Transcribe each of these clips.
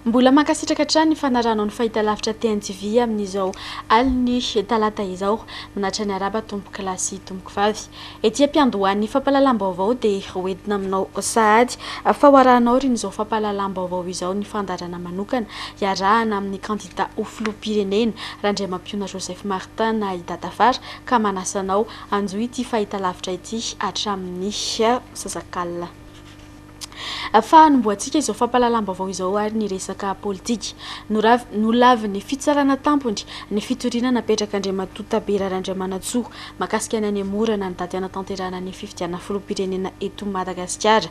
Mbola mankasitraka hatrany ny fanarahanao ny fahitalavitra TNTV amin'izao alin'ny talata izao. Minatra ny araba tompokolahy sy tompokovavy. Ety am-piandohan'ny fampahalalam-baovao dia ho entina aminao sahady fa ho arahanao ry n'izao fampahalalam-baovao izao ny fandaharana manokana iarahana amin'ny kandida ho filoham-pirenena Randriamampiona Joseph Martin na i Dadafara ka manasa anao hanjohy ity fahitalavitra ity hatramin'ny sasak'alina. fa hanombohantsika izao fampahalalam-baovao izao ary ny resaka politika. Nolavin'ny fitsarana tampony ny fitoriana napetrak'Andriamatoa Tabera Randramanantsoa mahakasika ny hanemorana ny daty hanatanterahana ny fifidianana filoham-pirenena eto Madagasikara.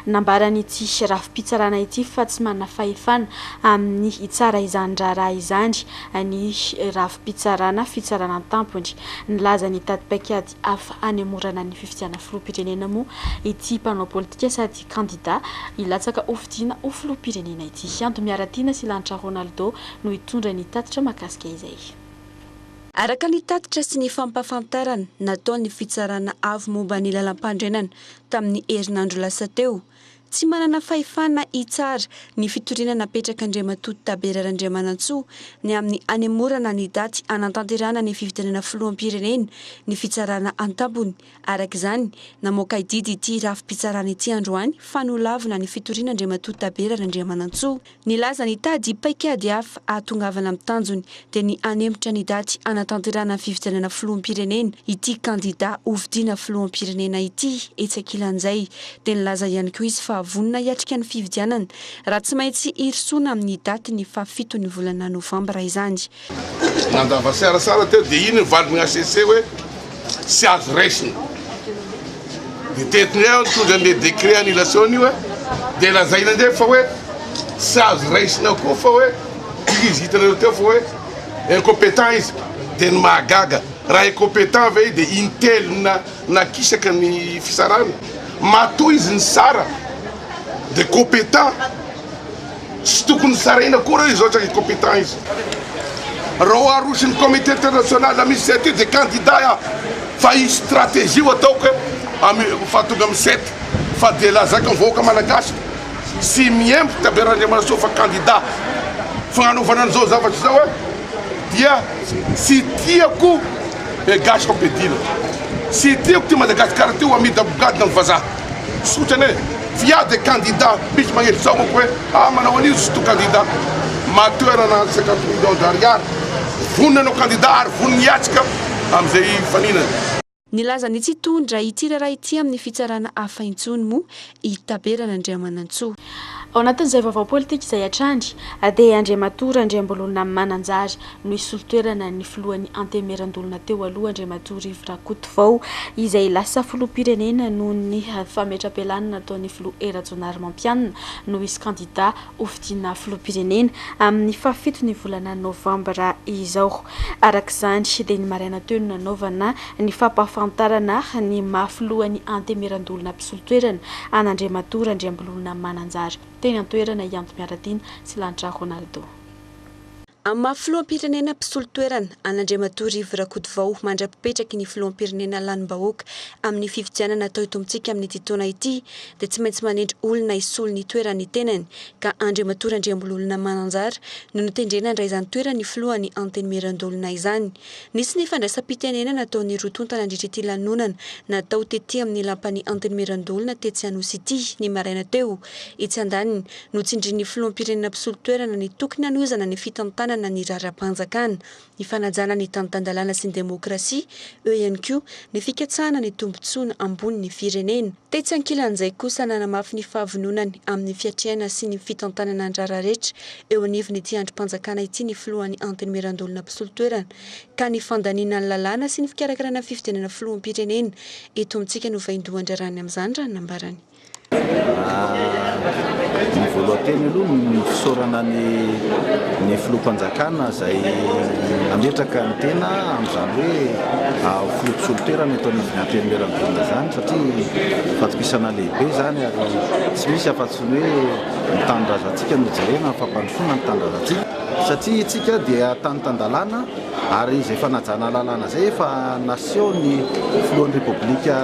Nambaran'ity rafi-pitsarana ity fa tsy manana fahefana amin'ny hitsara izany raharaha izany ny rafi-pitsarana fitsarana tampony. Nilaza ny tati-paikady hafa hanemorana ny fifidianana filoham-pirenena moa ity mpanao politika sady kandida hilatsaka ho fidiana ho filoham-pirenena ity. Hianto Miaratiana sy Lanitra Ronaldo no hitondra ny tatitra mahakasika izay. Araka ny tatitra sy ny fampahafantarana nataon'ny Fitsarana Avo momba ny Lalampandrenana tamin'ny herinandro lasa teo, Tsy manana fahefana hitsara ny fitoriana napetrak'Andriamatoa Tabera Randriamanantsoa ny amin'ny hanemorana ny daty hanantanterahana ny fifidianana filoham-pirenena ny fitsarana an-tampony. Araka izany, namoaka didy ity rafi-pitsarana ity androany fa nolavina ny fitoriana Andriamatoa Tabera Randriamanantsoa. Nilaza ny tady paikady hafa hahatongavana amin'ny tanjony dia ny hanemitra ny daty hanatanterahana ny fifidianana filoham-pirenena ity kandida hofidiana filoham-pirenena ity etsy ankilan'izay dia nilaza ihany koa izy fa vonona hiatrika ny fifidianana raha tsy maintsy hirosoana amin'ny daty ny faha fito ny volana novambra izany. Nandava siarasara teo dia iny ny valiny HCC hoe tsy azo raisina. Dia teto indray aho nitondra an'ilay décret annulation io hoe dia lazaina indray fa hoe tsy azo raisina koa fa hoe izy hitanareo teo fa hoe incompétent izy. Dia ny mahagaga raha incompétent ve izy dia intelo na nakisaka ny fisarana. Matoa izy nisara dia compétent. Tsy tokony saraina akory izao izany incompetents izao. Raha aroso ny comité international la misy zay ty de candidat ah fa hisy stratégie ho ataoko eh amy faha tonga amy sept fa de lazako amy vahoaka malagasy fa tsy miembo tabe Randriamarisoa fa candidat fagnanaovana an'izao zavatra izao eh dia tsy tiako eh gasy fa be dila tsy tiako ty Madagascar ty ho amidy ambogadina amy vazaha. Tsotra anie f'iaho dia kandida, misy magnenty zao manko hoe ah manao an'io izy to kandida, matoerana any cinquante millions d'ariary, vonona hanao kandida ary vonona hiatrika amin'izay hifaninana. Nilaza ny tsy hitondra ity raharaha ity amin'ny fitsarana hafa intsony moa i Taberana Andriamanantsoa. Ao anatin'izay vaovao politika izay hatrany dia Andriamatoa Randriambololona Mananjary no hisolo toerana ny filohan'ny Antenimierandolona teo aloha, Andriamatoa Rivo Rakotovao, izay lasa filoham-pirenena noho ny fametra-pialana nataon'ny filoha Hery Rajaonarimampianina no hisy kandida ho fidiana filoham-pirenena amin'ny fahafito ny volana novambra izao. Araka izany dia ny maraina teo no nanaovana ny fampahafantarana ny maha filohan'ny Antenimierandolona mpisolo toerana an'Andriamatoa Randriambololona Mananjary teny an-toerana i Antomiaratiana Silantra Ronaldo. Amin'ny maha filoham-pirenena mpisolo toerana, an'Andriamatoa Rivo Rakotovao mandra-pipetraky ny filoham-pirenena lanim-bahoaka amin'ny fifidianana atao eto amintsika amin'ity taona ity dia tsy maintsy manendry olona hisolo ny toeran'ny tenany ka Andriamatoa Randriambololona Mananjara no notendrena handray izany toeran'ny filohan'ny Antenimierandoholona izany. Nisy ny fandraisam-pitenenana nataon'ny roa tonta nandritra ity lanonana natao tety amin'ny lapan'ny Antenimierandoholona tetsy Anosy ity ny maraina teo etsy andaniny Notsindrin'ny filoham-pirenena mpisolo toerana ny tokony hanohizana ny fitantanana ny raharaham-panjakana, ny fanajana ny tantan-dalàna sy ny demokrasia, eo ihany koa ny fikatsahana ny tombontsoana ambonin'ny firenena. Tetsy ankilan'izay kosa nanamafy ny fahavononany amin'ny fiatrehana sy ny fitantanana ny raharaha rehetra eo anivon'ity andrim-panjakana ity ny filohan'ny Antenimierandoholona mpisolo toerana ka ny fandaniana ny lalàna sy ny fikarakarana fifidianana filoham-pirenena eto amintsika no vaindohan-draharahan'ny amin'izany raha ny nambarany. Ny voalohany teny aloha ny fisaorana ny ny filoham-panjakana izay nametraka ny tena amin'izany hoe filoha mpisolo toerana eto amin'ny antenimieran'ny volana izany satria fatokisana lehibe izany ary tsy misy afa-tsy ny hoe ny tanindrazantsika no jerena, ny fampandrosoana ny tanindrazantsika satria isika dia tany tan-dalàna ary izay fanajana lalàna izay efa nasehon'ny filohan'ny repoblika.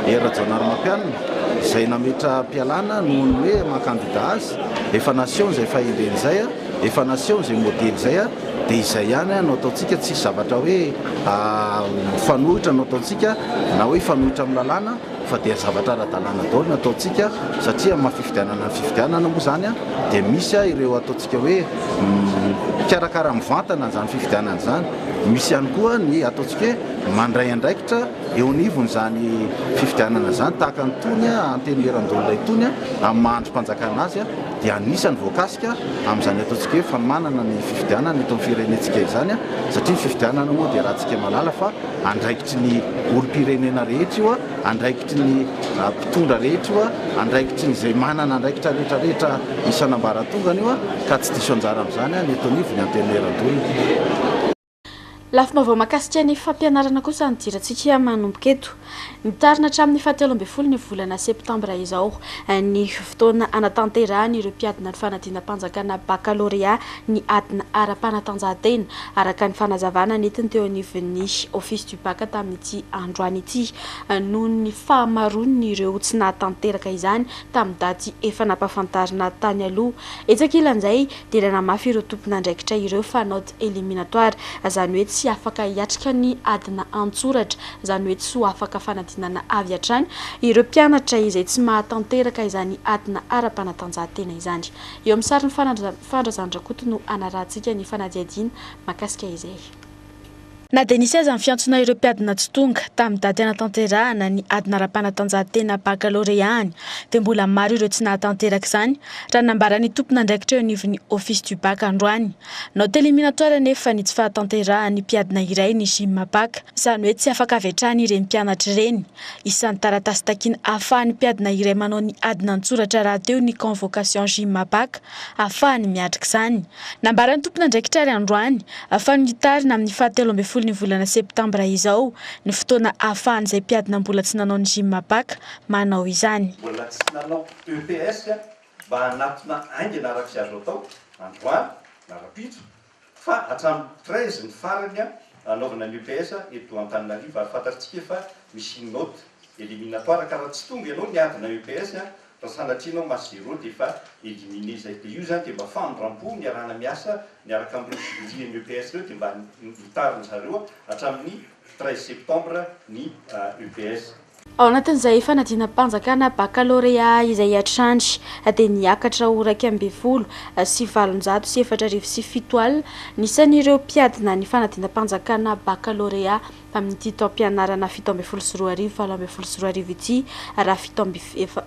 Hery Rajaonarimampianina, izay nametra-pialana noho ny hoe maha-kandida azy, efa nasehony izay fahendreny izay, efa nasehony izay modely izay, dia izay ihany no ataontsika, tsisy zavatra hoe mifanohitra no ataontsika na hoe hifanohitra amin'ny lalàna fa dia zavatra ara-dalàna daholo no ataontsika satria amin'ny maha-fifidianana ny fifidianana moa izany dia misy ireo ataontsika hoe mikarakara mivantana izany fifidianana izany, misy ihany koa ny ataontsika hoe mandray andraikitra. eo anivon'izany fifidianana izany tahaka an'itony Antenimierandoholona itony amin'ny maha andrim-panjakana azy dia anisany voakasika amin'izany ataontsika hoe fanomanana ny fifidianana eto amin'ny firenentsika izany satria ny fifidianana moa dia rahantsika mahalala fa andraikitry ny olom-pirenena rehetra io andraikitry ny mpitondra rehetra io andraikitry ny izay manana andraikitra rehetra rehetra isan'ambaratongany io ka tsy diso anjara amin'izany ny eto anivon'ny Antenimierandoholona. Lafim-baovao mahakasika ny fampianarana kosa ny dirantsika manomboka eto. Mitarina hatramin'ny fahatelo ambin'ny folon'ny volana septambra izao ny fotoana hanatanterahan'ireo mpiadina ny fanadinam-panjakana bakalorea ny adina ara-panatanjahantena, araka ny fanazavana nentiny teo anivon'ny Office du Bac tamin'ity androany ity, noho ny fahamaroan'ireo tsy nahatanteraka izany tamin'ny daty efa nampahafantarina tany aloha. Etsy ankilan'izay, dia nanamafy ireo tompon'andraikitra ireo fa note éliminatoire, izany hoe tsy afaka hiatrika ny adina an-tsoratra, izany hoe tsy ho afaka fanadinana avy hatrany, ireo mpianatra izay tsy mahatanteraka izany adina ara-panatanjahantena izany. Eo amin'ny sarin'i Fandrazan-dRakoto no hanarahantsika ny fanadihadiana mahakasika izay. Na dia nisy aza ny fiantsoana ireo mpiadina tsy tonga tamin'ny daty hanatanterahana ny adina ara-panatanjahantena bakaloreany dia mbola maro ireo tsy nahatanteraka izany raha nambaran'ny tompon'andraikitra eo anivon'ny Office du Bac androany nao Téléminatoire anefa ny tsy fahatanterahan'ny mpiadina iray ny Gymbac izany hoe tsy afaka avy hatrany ireny mpianatra ireny isan'ny taratasy takiana ahafahan'ny mpiadina iray manao ny adina an-tsoratra rahateo ny convocation Gymbac ahafahany miatrika izany. Nambaran'ny tompon'andraikitra àry androany fa nitarina amin'ny fahatelo ambin'ny folon'ny volana septambra izao ny fotoana ahafahan'izay mpiadina mbola tsy nanao ny gym baka manao izany. Mbola tsy nanao EPS mba hanatona haingana araka izay azo atao androany na rahampitso Fa hatramin'ny treize ny farany hanaovana ny EPS eto Antananarivo ary fantatrtsika fa misy une note eliminatoire ka raha tsy tonga ianao niadina EPS raha sanatria ianao masse zero dia efa elimine izay dia io izany dia mba famindrampo ny iarahana miasa miaraka amin'ireo jurys eny EPS ireo dia mba hotarin-dry zareo hatramin'ny treize septembre ny UPS. Ao anatin'izay fanadinam-panjakana bakalorea izay hatrany dia niakatra ho iraika ambin'ny folo sy valonjato sy efatra arivo sy fito al ny isan'ireo mpiadina ny fanadinam-panjakana bakalorea amin'ity taom-pianarana fito ambin'ny folo sy roa arivo valo ambin'ny folo sy roa arivo ity raha fito amby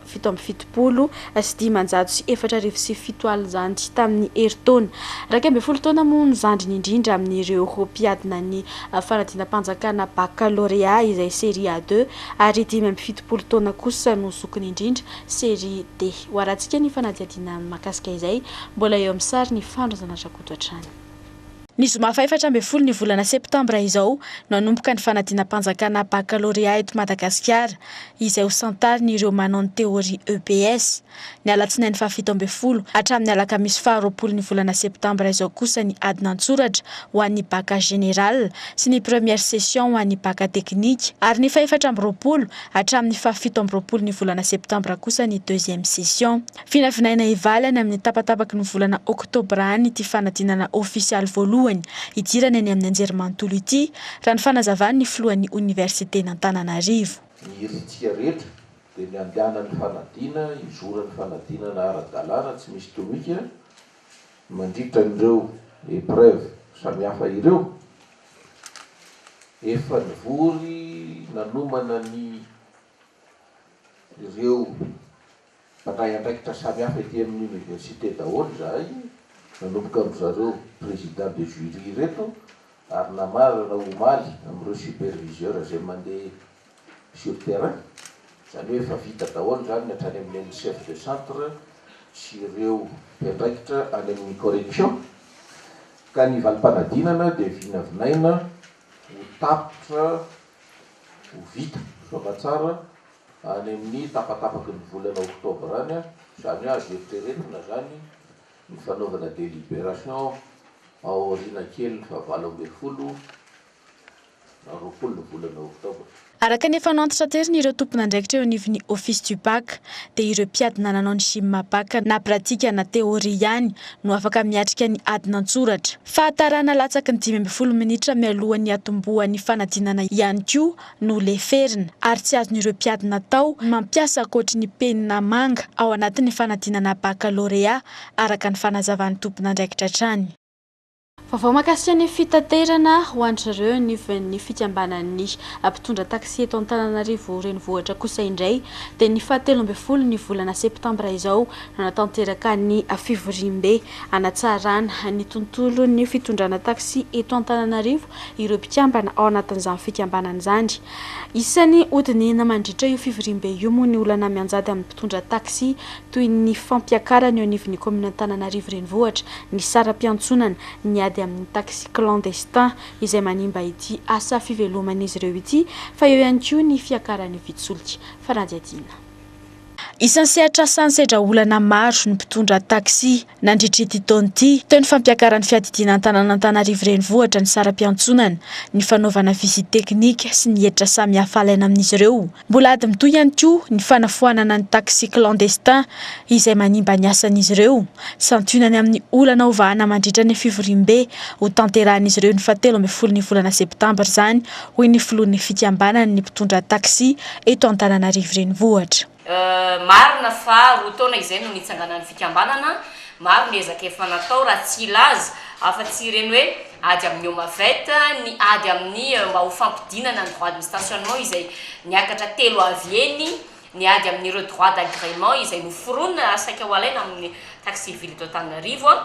fito amby fitopolo sy dimanjato sy efatra arivo sy fito alina izany tamin'ny herintaona iraika ambin'ny folo taona moa ny zandriny indrindra amin'ireo mpiadina ny fanadinam-panjakana bakalorea izay série A deux ary dimy amby fitopolo taona kosa no zokiny indrindra série D. Hoarantsika ny fanadihadiana mikasika izay. Mbola eo amin'ny sary ny Fandro Zanatrakoto hatrany. Ny zoma fahaefatra ambin'ny folo ny volana septambra izao no hanomboka ny fanadinam-panjakana bakalorea eto Madagasikara, izay ho santarin'ireo manao ny teoria EPS. Ny alatsinainy fahafito ambin'ny folo hatramin'ny alakamisy faharoapolo ny volana septambra izao kosa ny adin'an-tsoratra ho an'ny baka general sy ny première session ho an'ny baka teknika ary ny fahefatra amby roapolo hatramin'ny fahafito amby roapolo ny volana septambra kosa ny deuxième session. Vinavinaina hivalana amin'ny tapatapaky ny volana oktobra any ity fanadinana ofisialy voalohany hidirana eny amin'ny anjerimanontolo ity, raha ny fanazavan'ny filohan'ny oniversiten'Antananarivo. Ny herintsika rehetra dia ny handehanan'ny fanadina hizoran'ny fanadinana ara-dalàna tsy misy tomika mandritra an'ireo épreuves samihafa ireo. Efa nivory nanomana ny ireo. Nandray andraikitra samihafa ety amin'ny Université daholo izahay, nanomboka amin-dry zareo Président de Jury ireto ary namarana omaly amin'ireo Superviseurs izay mandeha sur terrain, izany hoe efa vita daholo izany ny hatrany amin'ny an'ny Chef de Centre sy ireo mpiandraikitra any amin'ny Correction, ka ny valim-panadinana dia vinavinaina ho tapitra ho vita soamantsara Any amin'ny tapatapaky ny volana oktobra any, izany hoe azo eritreretina izany ny fanaovana délibération ao aoriana kelin'ny fahavalo ambin'ny folo na roapolo ny volana oktobra. Araka ny efa nantitraterin'ireo tompon'andraikitra eo anivon'ny Office du Bac, dia ireo mpiadina nanao ny Gym Bac na pratique na théorie ihany no afaka miatrika ny adina an-tsoratra. Fahatarana latsaky ny dimy ambin'ny folo minitra mialohan'ny hatombohan'ny fanadinana ihany koa no leferina ary tsy azon'ireo mpiady natao ny mampiasa ankoatry ny penina manga ao anatin'ny fanadinana bakalorea, araka ny fanazavan'ny tompon'andraikitra hatrany. Vaovao mahakasika ny fitaterana ho an'drreo nivin'ny fikambanan'ny mpitondra taxi eto Antananarivo renivohitra kosa indray dia ny faha telo ambin'ny folo ny volana septambra izao no natanteraka ny fivoriambe hanatsarana ny tontolon'ny fitondrana taxi eto Antananarivo ireo mpikambana ao anatin'izany fikambanana izany. Isan'ny hodinihina mandritra io fivoriambe io moa ny olana mianjady amin'ny mpitondra taxi toy ny fampiakarana eo anivon'ny kaominin'Antananarivo Renivohitra ny saram-piantsonana, ny ady amin'ny taxi clandestin izay manimba ity asa fiveloman'izy ireo ity fa eo ihany koa ny fiakaran'ny vitsy solika fanadihadiana. Isan'ny sehatrasany sedra olana maro ny mpitondra taxi nandritra ity taona ity. Teo ny fampiakaran'ny fiadidiana an-tanàn'Antanarivo renivohitra ny saram-piantsonana, ny fanaovana visite teknika sy ny hetra samihafa alaina amin'izy ireo. Mbola ady mitohy ihany koa ny fanafoanana ny taxi clandestin izay manimba ny asan'izy ireo. Santionany amin'ny olana ho vahana mandritra ny fivoriambe hotanterahan'izy ireo ny fahatelo ambin'ny folo ny volana septambra izany hoy ny filohan'ny fikambanan'ny mpitondra taxi eto Antananarivo Renivohitra. Marina fa roa taona izay no nitsanganan'ny fikambanana, maro ny ezaka efa natao raha tsy hilaza afa-tsy ireny hoe ady amin'ny OMAVET, ny ady amin'ny mba ho fampidinana ny droit de stationnement izay niakatra telo avy eny Ny ady amin'ireo droits d'agrément izay noforonina ary saika ho alaina amin'ny taxe civile eto Antananarivo an.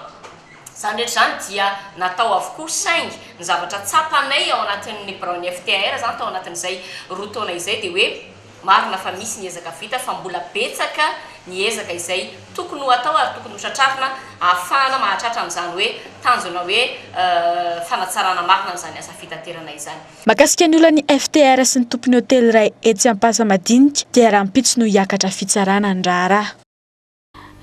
Izany rehetra izany dia natao avokoa saingy ny zavatra tsapanay ao anatin'ny biraon'ny FTAR izany tao anatin'izay roa taona izay dia hoe marina fa misy ny ezaka vita fa mbola betsaka ny ezaka izay tokony ho atao ary tokony ho tratrarina ahafahana mahatratra an'izany hoe tanjona hoe fanatsarana marina an'izany asa fitaterana izany. Mahakasika ny olan'ny FTR sy ny tompon'ny hotely iray etsy Ampasamadinika dia rahampitso no hiakatra fitsarana ny raharaha.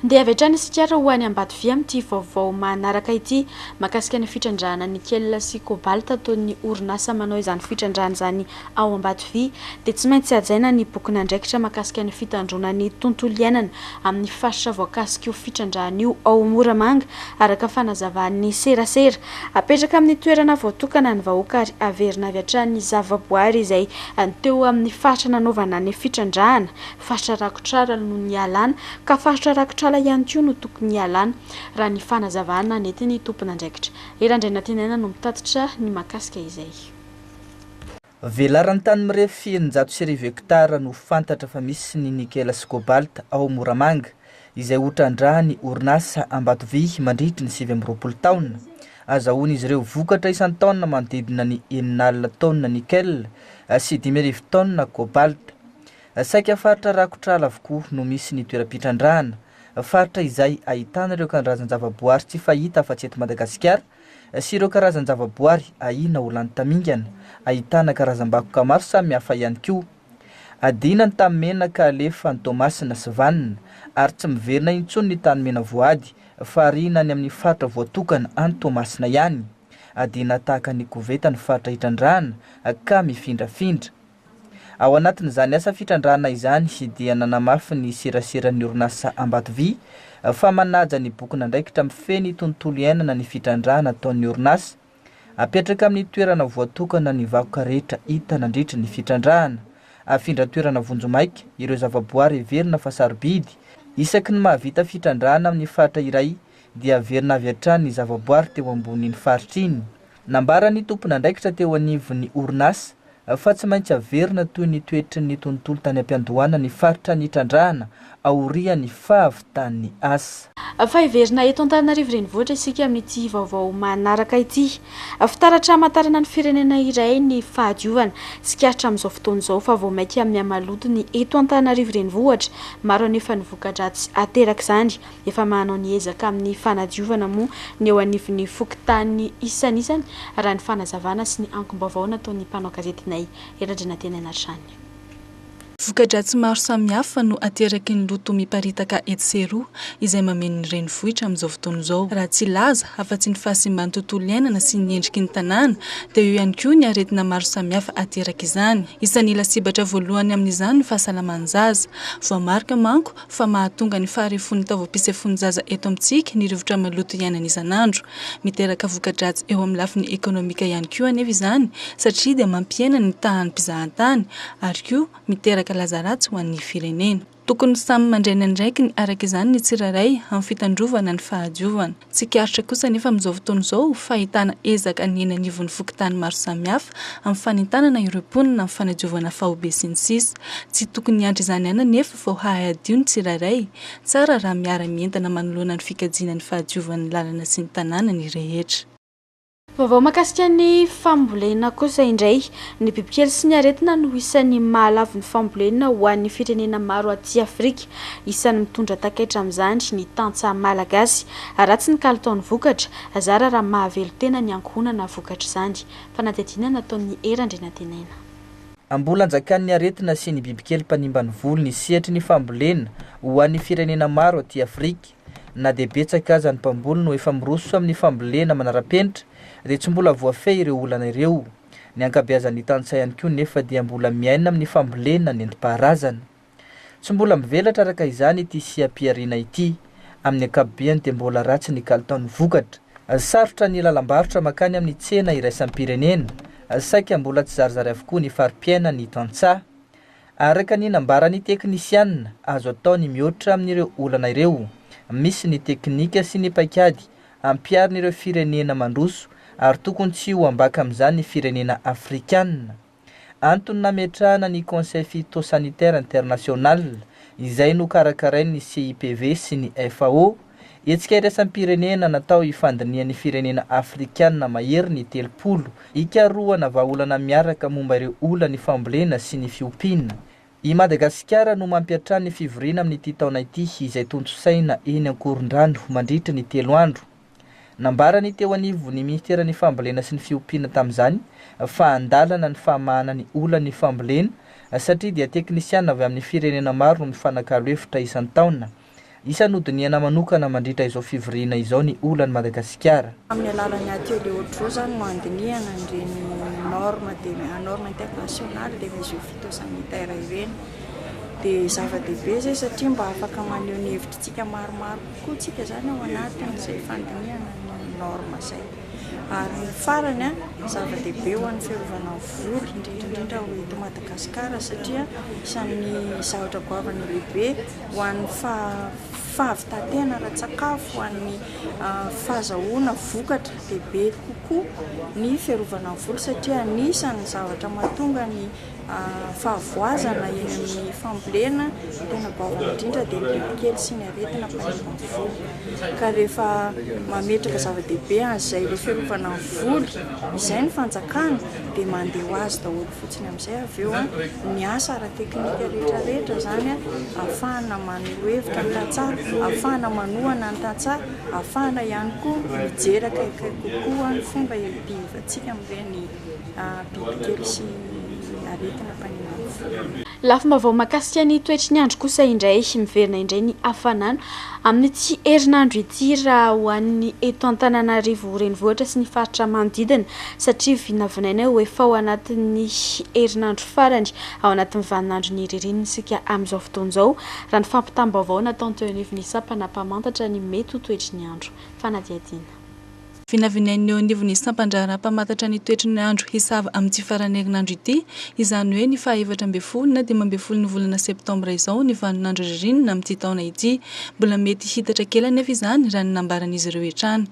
Handeha avy hatrany isika ary ho any Ambatovy amin'ity vaovao manaraka ity mahakasika ny fitrandrahana nickel sy cobalt ataon'ny orinasa manao izany fitrandrahana izany ao Ambatovy dia tsy maintsy hajaina ny bokin'andraikitra mahakasika ny fitandroana ny tontolo iainana amin'ny faritra voakasik'io fitrandrahana io ao Moramanga araka fanazavan'ny serasera Apetraka amin'ny toerana voatokana ny vahoaka ary averina avy hatrany ny zavaboary izay teo amin'ny faritra nanaovana ny fitrandrahana. Faritra rakotr'ala no nialana ka faritra rakotr'ala ihany koa no tokony hialana, raha ny fanazavana nentin'ny tompon'andraikitra. I Randrianantinaina no mitatitra ny mahakasika izay. Velaran-tany mirefy eninjato sy arivo hektara no fantatra fa misy ny nikela sy kôbalta ao Moramanga, izay ho trandrahan'ny orinasa Ambatovy mandritry ny sivy amby roapolo taona. Azahoan'izy ireo vokatra isan-taona manodidina ny enina alina taonina nikela sy dimy arivo taonina kôbalta. Saika faritra rakotra ala avokoa no misy ny toeram-pitrandrahana, faritra izay ahitana ireo karazan-javaboary tsy fahita afa-tsy eto Madagasikara, sy ireo karazan-javaboary ahiana ho lany tamingana, ahitana karazam-bakoka maro samihafa ihany koa. Adinany tamin'ny menaka alefa any Toamasina sy Vanona ary tsy miverina intsony ny tany mena voady fa ariana any amin'ny faritra voatokana any Toamasina ihany. Adina tahaka ny koveta ny faritra hitrandrahana ka mifindrafindra. Ao anatin'izany asa fitrandrahana izany dia nanamafy ny seraseran'ny orinasa Ambatovy fa manaja ny bokin'andraikitra mifehy ny tontolo iainana ny fitrandrahana ataon'ny orinasa. Apetraka amin'ny toerana voatokana ny vakoka rehetra hita nandritra ny fitrandrahana. Afindra toerana vonjimaika ireo zavaboary heverina fa sarobidy. Isaky ny mahavita fitrandrahana amin'ny faritra iray dia averina avy hatrany ny zavaboary teo ambonin'iny faritra iny. Nambaran'ny tompon'andraikitra teo anivon'ny orinasa fa tsy maintsy averina toy ny toetry ny tontolo tany am-piandohana ny faritra nitrandrahana aorian'ny fahavitan'ny asa. Fa heverina eto Antananarivo Renivohitra isika amin'ity vaovao manaraka ity. Fitaratra hamantarana ny firenena iray ny fahadiovana. Tsikaritra amin'izao fotoana izao fa vao mainka mihamaloto ny eto Antananarivo Renivohitra. Maro anefa ny voka-dratsy aterak'izany. Efa manao ny ezaka amin'ny fanadiovana moa ny eo anivon'ny fokontany isanisany, raha ny fanazavana sy ny angom-baovao nataon'ny mpanao gazetinay eto Andrianantenaina hatrany. Voka-dratsy maro samihafa no ateraky ny loto miparitaka etsy sy eroa, izay mameno ny renivohitra amin'izao fotoana izao. Raha tsy hilaza afa-tsy ny fahasimban'ny tontolo iainana sy ny endriky ny tanàna, dia eo ihany koa ny aretina maro samihafa aterak'izany. Isan'ny lasibatra voalohany amin'izany ny fahasalaman'ny zaza. Voamarika manko fa mahatonga ny faharefon'ny taovam-pisefoan'ny zaza eto amintsika ny rivotra maloto iainana isan'andro. Miteraka voka-dratsy eo amin'ny lafiny ekonomika ihany koa anefa izany satria dia mampihena ny tahan'ny mpizahantany ary koa miteraka laza ratsy ho an'ny firenena. Tokony samy mandray ny andraikiny araka izany ny tsirairay amin'ny fitandrovana ny fahadiovana. Tsikaritra kosa anefa amin'izao fotoana izao fa ahitana ezaka ny eny anivon'ny fokontany maro samihafa amin'ny fanentanana ireo mponina amin'ny fanadiovana faobe sy ny sisa Tsy tokony hiandry izany ihany anefa vao hahay hadio ny tsirairay. Tsara raha miara-mientana manoloana ny fikajiana ny fahadiovan'ny lalana sy ny tanàna ny rehetra. Vaovao mahakasika ny fambolena kosa indray. Ny bibikely sy ny aretina no isan'ny mahalavo ny fambolena ho an'ny firenena maro aty Afrika. Isan'ny mitondra takaitra amin'izany ny tantsaha malagasy. Ratsy ny kalitaon'ny vokatra, zara raha mahavelon-tena ny ankohonana vokatr'izany. Fanadihadiana nataon'i Hery Andrianantenaina. Mbola anjakan'ny aretina sy ny bibikely mpanimba ny volo ny sehatry ny fambolena ho an'ny firenena maro aty Afrika. Na dia betsaka aza ny mpamboly no efa miroso amin'ny fambolena manara-penitra dia tsy mbola voafehy ireo olana ireo. Ny ankabeazan'ny tantsaha ihany koa nefa dia mbola miaina amin'ny fambolena nentim-paharazana. Tsy mbola mivelatra araka izany ity seha-pihariana ity. Amin'ny ankapobeny dia mbola ratsy ny kalitaon'ny vokatra. Sarotra ny lalam-barotra mankany amin'ny tsena iraisam-pirenena. Saika mbola tsizarizary avokoa ny fari-piainan'ny tantsaha. Araka ny nambaran'ny teknisianina, azo atao ny mihoatra amin'ireo olana ireo. Misy ny teknika sy ny paikady ampiharin'ireo firenena mandroso ary tokony tsy ho ambaka amin'izany ny firenena afrikanina. Antony nametrahana ny Conseil Phytosanitaire International, izay nokarakarain'ny CIPV sy ny FAO, Hetsika iraisam-pirenena natao hifandinihan'ny firenena afrikanina mahery ny telopolo, hikarohana vahaolana miaraka momba ireo olan'ny fambolena sy ny fiompiana. I Madagasikara no mampiantrano ny fivoriana amin'ity taona ity izay tontosaina eny Ankorondrano mandritra ny telo andro. Nambaran'ny teo anivon'ny Minisiteran'ny Fambolena sy ny Fiompiana tamin'izany fa andalana ny famahana ny olan'ny fambolena satria dia teknisiana avy amin'ny firenena maro no mifanakalo hevitra isan-taona Isan'ny hodinihana manokana mandritra izao fivoriana izao ny olan'i Madagasikara. Amin'ny alalan'ny atelier Ojo izany no handinihana an'ireny normes de normes internationales des mesures phytosanitaires ireny. Dia zava-dehibe izay satria mba afaka maneho ny hevitritsika maromaro kokoa isika izany ao anatin'izay fandinihana ny normes izay. Ary ny farany, zava-dehibe ho an'ny fiarovana ny voly, indrindra indrindra ho eto Madagasikara satria isan'ny zavatra goavana lehibe. ho an'ny fahavitan-tena ara-tsakafo, ho an'ny fahazahoana vokatra dia be kokoa ny fiarovana ny volo satria anisan'ny zavatra mahatonga ny fahavoazana eny amin'ny fambolena, ny tena baovana indrindra dia ny bibikely sy ny aretina manimba ny volo ka rehefa mametraka zava-dehibe an'izay ilay fiarovana ny volo izay ny fanjakana dia mandeha ho azy daholo fotsiny amin'izay. izay avy eo ny asa ara-teknika rehetra rehetra izany ahafahana maneho hevitra ny tantsaha, ahafahana manohana ny tantsaha, ahafahana ihany koa mijery akaiky kokoa ny fomba iadiavantsika amin'ireny bibikely sy aretina mpanimaso ireny. Lafim-baovao mahakasika ny toetry ny andro kosa indray, miverina indray ny hafanana amin'ity herinandro ity raha ho an'ny eto Antananarivo renivohitra sy ny faritra manodidina. satria vinavinaina ho efa ao anatin'ny herinandro farany ao anatin'ny vaninandron'ny ririnina isika amin'izao fotoana izao, raha ny fampitam-baovao natao teo anivon'ny sampana mpamantatra ny mety ho toetry ny andro. Fanadihadiana. Vinavinain'ny eo anivon'ny sampan-draharaha mpamantatra ny toetry ny andro hisava amin'ity faran'ny herinandro ity, izany hoe ny faha efatra ambin'ny folo na dimy ambin'ny folon'ny volana septambra izao ny vaninandro ririnina amin'ity taona ity. Mbola mety hiitatra kely anefa izany, raha ny nambaran'izy ireo hatrany.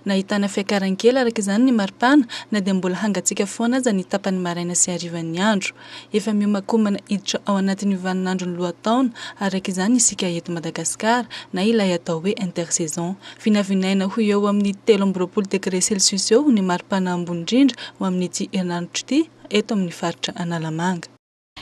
Nahitana fiakaran'ny kely araka izany ny maripana na dia mbola hangatsiaka foana aza ny tapany maraina sy harivan'ny andro. Efa miomakomana hiditra ao anatin'io vaninandron'ny lohataona araka izany isika eto Madagasikara na ilay atao hoe intersaison. Vinavinaina ho eo amin'ny telo amby roapolo degre celsius eo ny maripana ambony indrindra ho amin'ity herinandro ity eto amin'ny faritra Analamanga.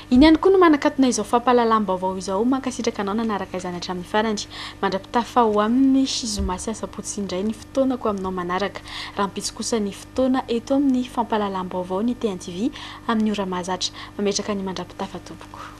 Iny ihany koa no manakatona izao fampahalalam-baovao izao, mankasitraka anao nanaraka izany hatramin'ny farany. Mandra-pitafa ho amin'ny zoma sy asabotsy indray ny fotoanako aminao manaraka. Rahampitso kosa ny fotoana eto amin'ny fampahalalam-baovao ny TNTV amin'ny ora mahazatra. Mametraka ny mandra-pitafa tompoko.